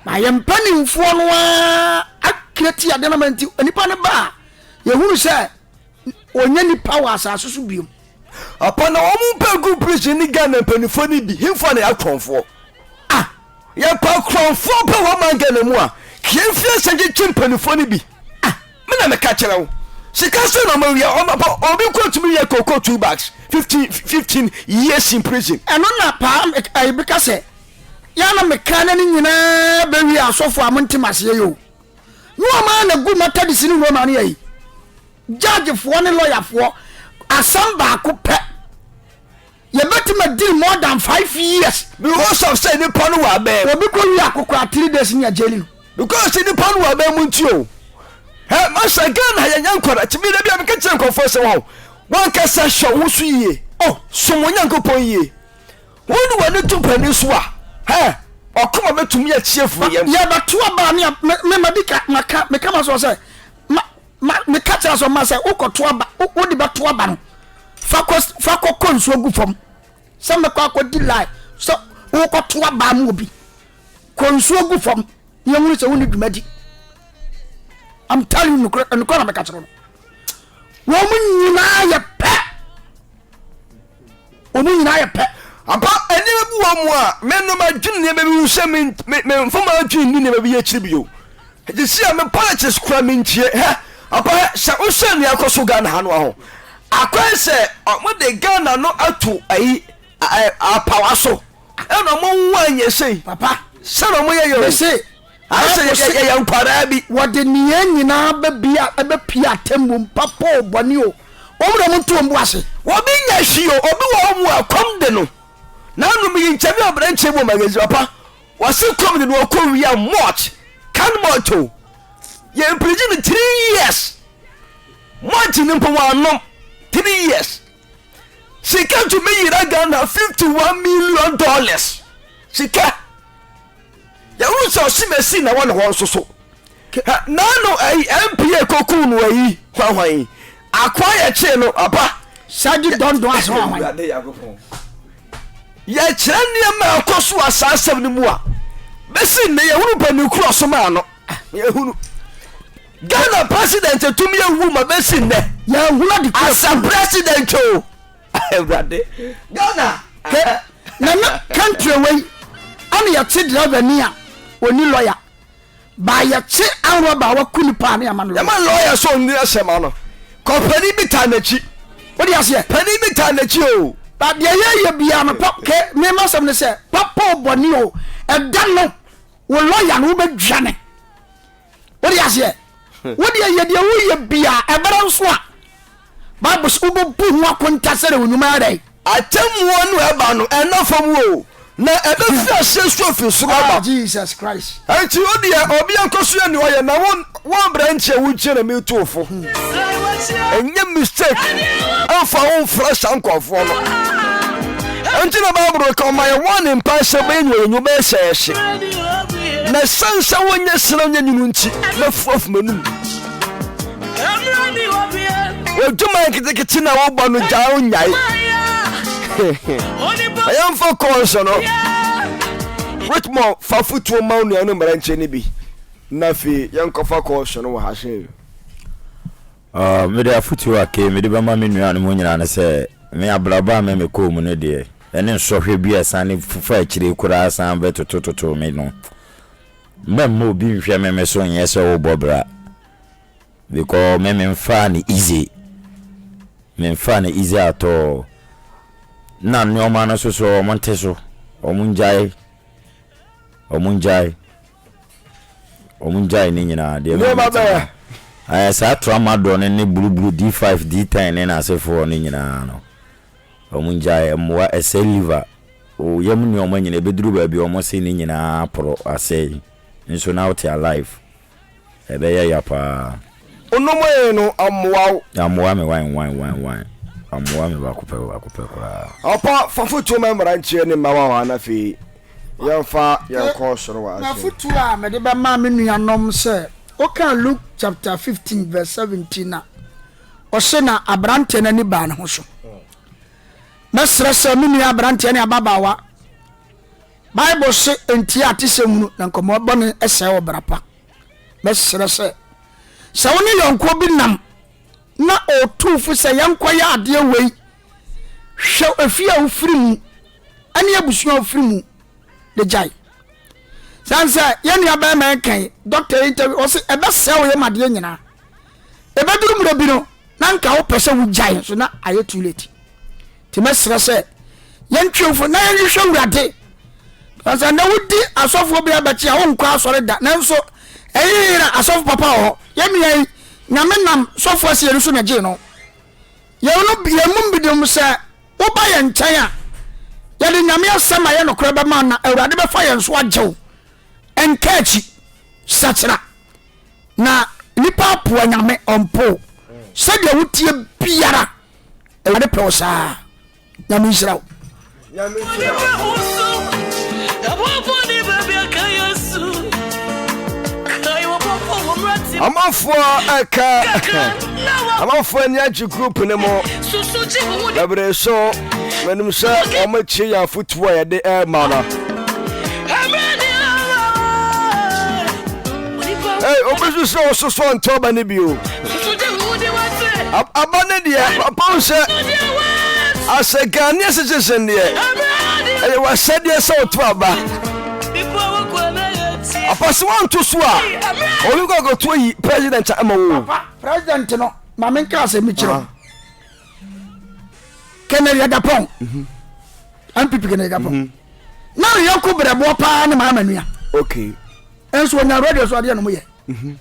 na yɛn mpanimfoɔ no ara akira ti adeɛ no ma nti nipa no ba a yɛhunu sɛ ɔnyɛ nipa wɔ asase so biom. Apa na wɔn mpɛ gu prison ne Ghana mpanyinfoɔ no bi hemfoɔ na yɛ akorɔnfoɔ ah yɛ pa akorɔnfoɔ pɛ wɔ man Ghana mu a kii mfie nsa gyekye mpanyinfoɔ no bi ah me na meka kyerɛ wo sika sɛ na ɔma wia ɔma pa obi kɔ tumi yɛ koko two bags fifteen fifteen years in prison. Ɛno na paa ɛyi beka sɛ yɛ na mekra na ne nyinaa bɛ wia asɔfo a mo ntem aseɛ yɛ o. Ne wɔn ara na gu Methodist ne Roma no ayi. Judgefoɔ ne lɔyafoɔ asɛm baako pɛ. Yɛbɛtumi adiri more than five years. Because of sɛ nipa no wɔ abɛn. Obi kɔ wi akokora three days ni agyeli no. Because nipa no wɔ abɛn mu nti o. Ɛ masa Ghana yɛnyɛ nkwara ti mi na bi a mi kɛkyɛ nkɔfoɔ sɛ wɔn wɔn kasa hwɛ wɔn so yie. Oh som wɔn Nyankopɔn yie. Wo ne w'ani to panin so a, hɛ, ɔkoma bɛtumi akyi afiri yɛn. Yɛbɛto aba ne me ma di ka maka meka ma so sɛ ma ma meka kyerɛ so ma sɛ wokɔto aba wode bɛto aba no fa kɔ fa kɔkɔ nsuo gu fam sɛ mɛkɔ akɔdi lai sɛ wokɔto aba mu obi kɔ nsuo gu fam ne ɛhunu sɛ wone dwumadi I'm telling you nokorɛ na meka kyerɛ no wɔn nyinaa yɛ pɛ wɔn nyinaa yɛ pɛ. Apa nneɛma bi wɔ mu a menom adwene nneɛma bi ho sɛ memfama adwene nni nneɛma bi akyiri bio ɛte si a me politics kora mentie hɛ apa hɛ sɛ wosɛ nea ɛkɔ so Ghana ha no ho akwan sɛ wɔde Ghana no ato ayi apawa so ɛna wɔn ho anyɛ sei papa sɛna wɔyɛ yɛ o Ayɛ sɛ yɛ, yɛ, yɛyɛ nkwadaa bi. Wɔde ne yɛn nyinaa bɛbia, bɛpia atemmuo mu, papa o, bɔne o, wɔn na wɔnto wɔn bo ase. Obi nyɛ hwee o, obi wɔ hɔ mu a kɔm de no. Nanom yi nkyɛn bi aberanteɛ bi wɔ magazine ɔpa, wɔse kɔm de no ɔkɔ wia mɔt, kan mɔt o. Yɛ mpirigyi no three years. Mɔt no mpo wɔanom three years. Sika tumi yera Ghana fifty one million dollars. Sika. Yɛhu sɛ ɔse Messi na ɛwɔ ne hɔ nso so. Nano ayi MPA koku no ayi hwanhwan yi. Akoa yɛ kyee no aba. Sadi dɔndɔn ase hwanhwan. Yɛkyerɛ nneɛma a ɛkɔ so wɔ saa asɛm no mu a bɛsi nnɛ yɛhunu bɛni koro ɔsom a no ah, yɛhunu Ghana president tumi ewu ma bɛsi nnɛ yɛhunu adi koro asa president o awurade ghana nana country wei ɛna yɛkye driver ni a ɔni lawyer ba yɛkye ahorɔ ba waku nipa a ne yɛma no yɛma lawyer sɛ ɔnni asɛm ano kɔ panin bi taa n'akyi wode aseɛ panin bi taa n'akyi o ba deɛ yɛyɛ biara no pap ke mema sɛm no sɛ papa ɔbɔne o ɛda no wo lawyer no wobɛdwa ne wode aseɛ wodeɛ yɛdeɛ woyɛ biara ɛbɛrɛ nso a Bible se wobebu ho akonta sɛdeɛ wo nnwuma yɛ dɛn. Atemmuo no a ɛba no, ɛnna fam o, na ɛbɛfiri aseɛ nso afiri soro Ah, aba. Jesus Christ. Enti wo deɛ, obi ankɔ so yɛ nea ɔyɛ, na wo, wo aberanteɛ, wo nkyɛn na meretu wo fo. Ɛnyɛ mistake mfa wo mfra saa nkurɔfoɔ no. Enti na Bible ka ɔma yɛ warning paa sɛ bɛyɛ nea yɛnyu bɛyɛ sɛ yɛhye. Na ɛsiane sɛ wonyɛ sena nyɛ nwunu nti, mɛfu afu m'anum. odwuma nketekete na wobɔ no gyaa wo nyae ɛyɛmfa kɔɔso no whitmore fa fotuo ma wo nua no mmerankyɛ no bi na afei yɛnkɔfa kɔɔso no wɔ ha sɛ ah, mede afotuo akei mede bɛma me nua no mu nyinaa no sɛ me abrabɔ a me mekɔɔ mu no deɛ ɛne nsɔhwɛ bi a ɛsane fufa akyire koraa san bɛtotototo me no Mɛmma obi nhwɛ meme so nyɛ sɛ wo bɔ bra because me me nfaa no easy me nfaa no easy at all na nnoɔma no nso so wɔn nte so wɔn ngyae wɔn ngyae wɔn ngyae ne nyinaa deɛ me me tena ɛɛ saa tramadol ne ne buruburu D5 D10 ne n'asefoɔ ne nyinaa no. Ɔmo ngyae mmoa ɛsɛe liver, oyam nnoɔma nyinaa, ɛbɛduru baabi a ɔmo se ne nyinaa aporo, asɛe, nso na wote alive. Ɛbɛyɛ ya paa. Onomee no ammoa wo? Ammoa me wan wan wan wan. Ammoa me baako pɛ baako pɛ koraa. Ɔpa fa fotuo ma mmranteɛ ne mmawa hɔ a na afei yɛmfa yɛn kɔ soro wɔ adwene. M'afotuo a mede bɛma me nuanom sɛ, wokan Luke chapter fifteen verse seventeen a, Ɔse na abranteɛ no ani baa ne ho so. Mɛsrɛ sɛ me nua abranteɛ ne ababaawa, Bible se ntie a te sɛ hunu na nkɔmmɔ bɔne sɛe ɔbra pa. Mɛsrɛ sɛ, sɛ wo ne yɔnkoɔ bi nam na ɔtuu fo sɛ yɛnkɔyɛ adeɛ wei, hwɛ efie a wofiri mu ne abusua a wofiri mu de gyae. Sane sɛ yɛn nua bɛrima yi kae, dɔkta yi interview, ɔse ɛbɛsɛe wo yam adeɛ nyinaa. ɛbɛduru mmerɛ bi no na nka wopɛ sɛ wogyae nso na ayɛ too late nti mɛserɛ sɛ yɛntwemfo na yɛnhwehwɛ awurade sɛ na wodi asɔfoɔ bi abɛkye a wonkɔ asɔre da nanso ɛyeyera asɔfo papa wɔ hɔ yɛnua yi nyame nam sɔfoɔ aseɛ no so na gyee no yɛn mu bi dem sɛ woba yɛn nkyɛn a yɛde nyame asɛm a yɛ nokorɛ bɛma na awurade bɛfa yɛn so agyew ɛnka akyi sakyera na nipa apoa nyame ɔmpo sɛdeɛ woteɛ biara awurade pɛ wo saa nyame nhyira wo amanfoɔ ɛka amanfoɔ ani agye group no mu bɛbrɛ so manim sɛ wɔmakyi yɛ afotuo a yɛde ɛma no Hey, obesu sɛ ɔsoso ntɔ aba no bio aba no deɛ papa wo sɛ asɛ ghanea citizen deɛ ɛyɛ wasɛdeɛ sɛ woto aba apa sɛ woanto so a ɔne kɔ akɔto ayi president ama wo president no ma menka asɛ mekyerɛ ah. kɛnɛ yɛdapɔn mpp mhm. kɛnɛ yɛdapɔn mhm. na ne yɔnko berɛboɔ paa ne maa manua okay. nso ɔnya radio so adeɛ nom yɛ mhm.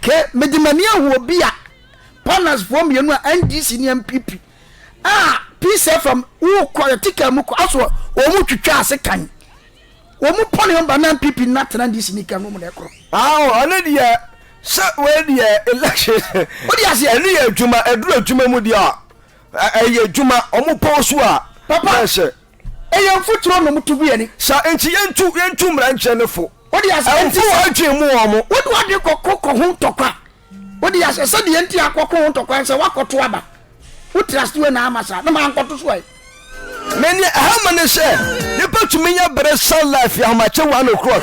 ke mede m'ani ahu obi a panasfoɔ mmienu a ndc ne mpp a peace fm wokɔ yɛte kaa mu kɔ aso wɔn mu twitwa ase kan wɔn mu pɔne ɔmba na mpp na tena ndc ne kan nom na ɛkorɔ ɔno deɛ sɛ wei deɛ election wode aseɛ ɛno yɛ adwuma ɛduru adwuma mu deɛ a ɛyɛ adwuma ɔmo pɔw so a papa Ɛyɛ mfuturo nom to gu yɛn ani. Saa nti yɛntu yɛntu mmara nkyerɛ no fo. Wode ase ɛnti sɛ. Ɛmfo wɔn adwene mu wɔn mo. Wode w'adwene kɔko kɔ ho ntɔkwa. Wode ase sɛ deɛ nti akɔko ho ntɔkwa sɛ woakɔto aba. Wo trust wei na ama saa na mankɔto so ɛ. Me neɛ ɛha ma ne sɛ nipa tumi nya bere san life yɛ ahomakye one o'clock.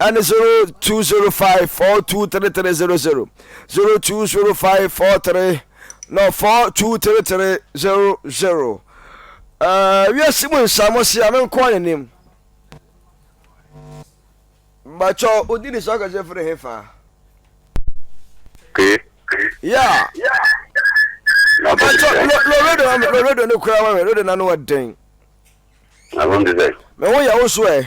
ɛne 0205423300, 020543 no 42300. Uh, wiase mu nsamo se ano nkoa ne nim bakyɛ odi ne so akasɛ firi he fa okay. yeah. loredo ne kora ma me redo na no ɔden me ho yɛ wo so ɛ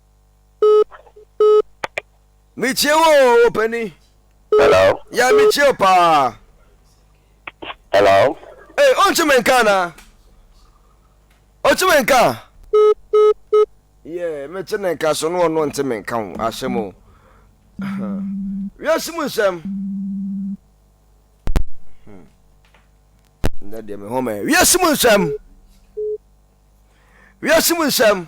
metie wo o ɔpani hello yɛ metie o paa hello ee ɔnkye me nka na ɔkye me nka yɛ mekye ne nka so ne ɔno ɔnte me nka ho ahyɛm o wiase mu nsɛm hmm. ndɛ deɛ me home wiase mu nsɛm wiase mu nsɛm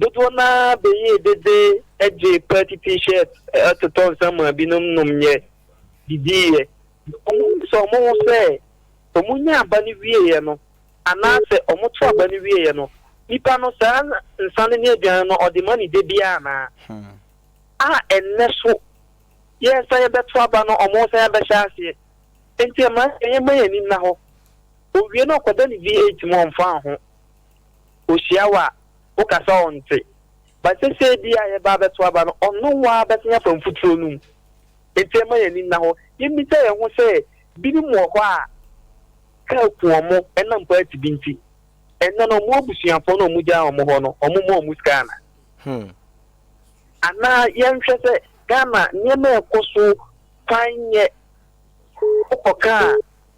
Dodoɔ no ara beyee dede gyee party t-shirt totɔ nsa maa binom nomyɛ, didiiɛ. Wɔn bisa wɔn ho sɛ, wɔn nyaa aba no wieeɛ no anaa sɛ wɔn to aba no wieeɛ no, nipa no saa nsa no ne aduane no ɔde ma no dabiara anaa? A ɛnnɛ so yɛresan yɛbɛto aba no wɔn resan abɛhyɛ aseɛ. Enti ɛmma yɛmma yɛn ani nna hɔ. Owie no ɔkɔda ne VAT mu ɔmfaa ho. Ohyia wo a, woka sɛ ɔnte. But sesei deɛ a yɛba abɛto aba no, ɔno ara bɛsan afa mfuturo no mu. Enti ɛmma yɛn ani nna hɔ. Yɛmmisa yɛn ho sɛ, Binom wɔ hɔ a, kaa ku wɔn ɛnam party bi nti. Ɛnnɛ no, wɔn abusuafoɔ no a wɔgyaa wɔn hɔ no, wɔmma wɔn sika anaa? Anaa yɛnhwɛ sɛ Ghana nneɛma a ɛkɔ so kwan nyɛ. Wokɔka a,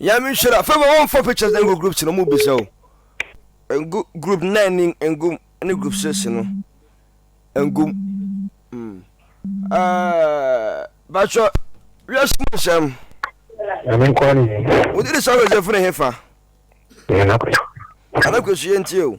Nyame nhyira. Favor wɔn fɔ pictures na ngu groups no mu bisa o. Ngu group nine ni ngu ne group six no. Ngu. Mm. Uh, Bacho, we are small Sam. Nyame nkwa ni. Wodi di sa Joseph ne hefa. Nyame nakwesu. Anakwesu yenti o.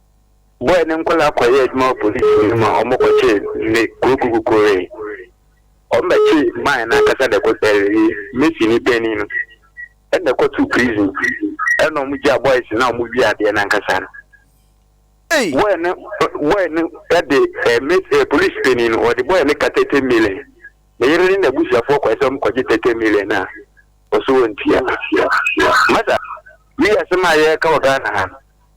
Bɔy ne nkɔlaa kɔyɛɛ adwuma wɔ police hene mu a ɔmo kɔkyee ne kokukukuree ɔmo bɛkyee man no ankasa na ɛkɔ ɛɛɛ mesi ne panin no ɛna ɛkɔ too prison ɛna ɔmo gyaa boys no a ɔmo wia adeɛ no ankasa no Ei! Bɔy no bɔy no ɛde ɛɛ mesi ɛɛ police panin no ɔde bɔy no ka thirty million ne yere ne n'abusuafoɔ kɔɛ sɛ ɔmo kɔgye thirty million no a ɔso ɔntua masa wei asɛm a yɛɛka wɔ Ghana ha no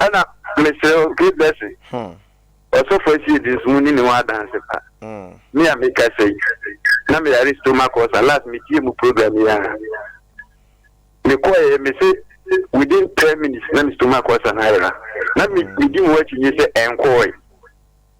Ɛna mesrɛ wo keep blessing ɔsɔfo asie de nso muni ne ho adanse pa me a meka sɛ yi na meyare stomach ulcer last metie mu program yi a mekɔɛ mese within 10 minutes na me stomach ulcer no ayera na medi mu akyi nye sɛ ɛnkɔɔe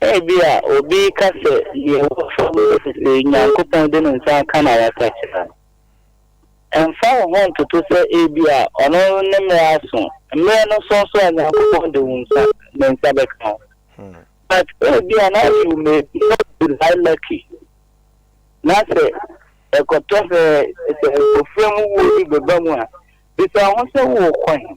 Ebia obi reka sɛ, Nea ɛwɔ fam ne sɛ sɛ Onyankopɔn de ne nsa aka na wasakyera no, ɛmfa wo ho ntoto sɛ ebia ɔno ne mmere aso. Mmere no so nso a, Nyankopɔn de wo nsa, ne nsa bɛka wo. But ebia now you may not be that lucky, na sɛ ɛkɔtɔ sɛ sɛ ofura mu wuo bi bɛba mu a, bisa wo ho sɛ worekɔ he?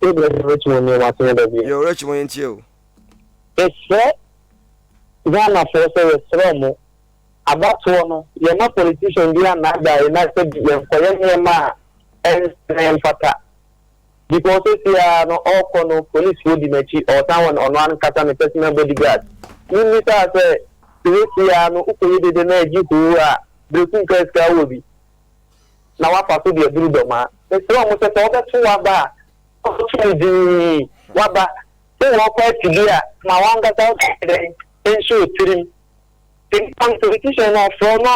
Sɛ bia yɛ rɛkyem ɔnua mu asɛm da bi. Yɛ rɛkyem ɔyɛ ntie o. Mesrɛ Ghana foɔ sɛ yɛsrɛ ɔmo abatoɔ no yɛma politician biaa nnaadaa yɛn na sɛ bi yɛnkɔyɛ nneɛma a ɛnsɛ na ɛmfata because sɛsei ara no ɔɔkɔ no police foɔ di n'akyi ɔɔsan wɔ ɔno ankasa ne personal body guard mommisaa sɛ sɛsei ara no wokɔyɛ dede na agye hoo a breku nkaa sika wowɔ bi na woafa so de aduru dɔm a, mesrɛ mo sɛ, sɛ wɔbɛto wo aba a, fa wo tumi dii w'aba. Sɛ wɔrekɔ akyinnye a, ma w'ankasa wo tumi nyɛ dɛn? Ɛnhyɛ wo tirim. Sɛ nnipa no, sɛ physician no ɔfrɛ wo na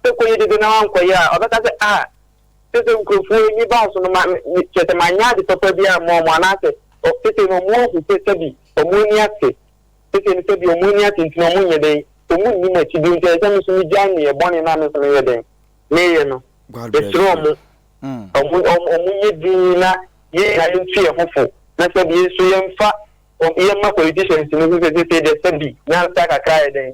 sɛ kɔyɛ dede na woankɔyɛ a, ɔbɛka sɛ, Ah, kyerɛ sɛ nkurɔfoɔ ani baa so no ma, me, kyerɛ sɛ manyɛ ade papa bi amma wɔn, anaasɛ, ɔ, seesei no wɔn ahu sɛ sɛbi wɔn ani ate. Seesei no, sɛdeɛ wɔn ani ate nti no, wɔnyɛ dɛn? Wɔnni m'akyi bio, nti ɛsɛ sɛ me nso megyae nneyɛɛ bɔne no a me nso meyɛ dɛn? Meyɛ no. Mesrɛ wɔn, wɔn, wɔnyɛ dinn na yɛn nyinaa yɛntu yɛn ho fo, na sɛbi yɛn nso yɛmfa wɔn, yɛmma politicians no nhu sɛ seesei deɛ sɛbi nyansa kakra ayɛ dɛn?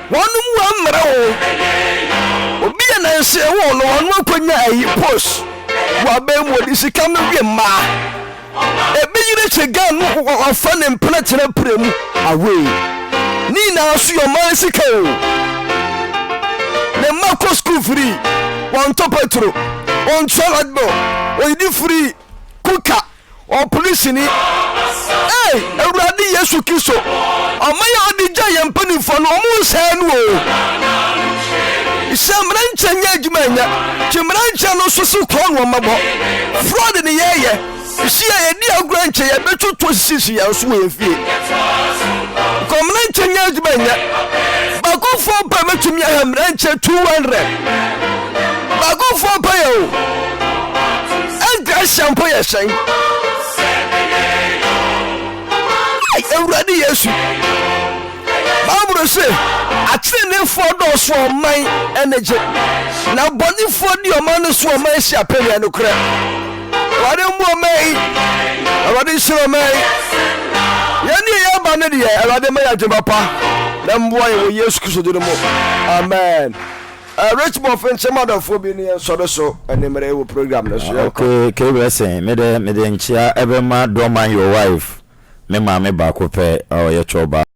Wɔn mu ammerɛ wo obi a nansee woo no wɔn akonya ayi post wɔ abɛn mu wɔde sika no wie mmaa ebi yere kye gan no wɔfa ne mpena tena pire mu away ne nyinaa so yɛ ɔman sika o ne mma kɔ school free wɔn tɔ petro wɔn tua light bill wɔn yidi free kuka Ɔpene sini. Ei Awurade Yesu Kristo, ɔman a ɔde gyaa yɛn mpanimfoɔ no, wɔnsɛe no o. Hyɛ mmara nkyɛn nyɛ adwuma nyɛ. Gye mmara nkyɛn no nso so korɔ no mmɔbɔ. Fraud ne yɛyɛ. Hyia a yɛdi agorɔ nkyɛn yɛbɛtwo to sisi yɛn so wɔ yɛn fie. Kɔ mmara nkyɛn nyɛ adwuma nyɛ. Baako foɔ pɛ bɛtumi aha mmara nkyɛn 200. Bagufoɔ mpo yɛ o Ɛnti ahyɛ mpo yɛ hyɛn Awurade Yesu Bible se ateneneefoɔ dɔɔso ɔman ɛne gye Na bɔnefoɔ di ɔman no so ɔman si apɛdeɛ no korɛ Awurade mmu ɔman yi Awurade nhyira ɔman yi Yɛne yɛ aba no deɛ Awurade ma yɛ adwuma pa Na mmoa yɛ wɔ Yesu Kristo din mu Amen Rich Boff nkye m'adɔfoɔ bi ne yɛn nsɔre so anwumerɛ yi wɔ program no so. Yɛn kɔ. Okay K Blessing me dɛ mede nkyea ɛbɛma Dorman your wife me maame baako pɛ ɔyɛ chɔbaa.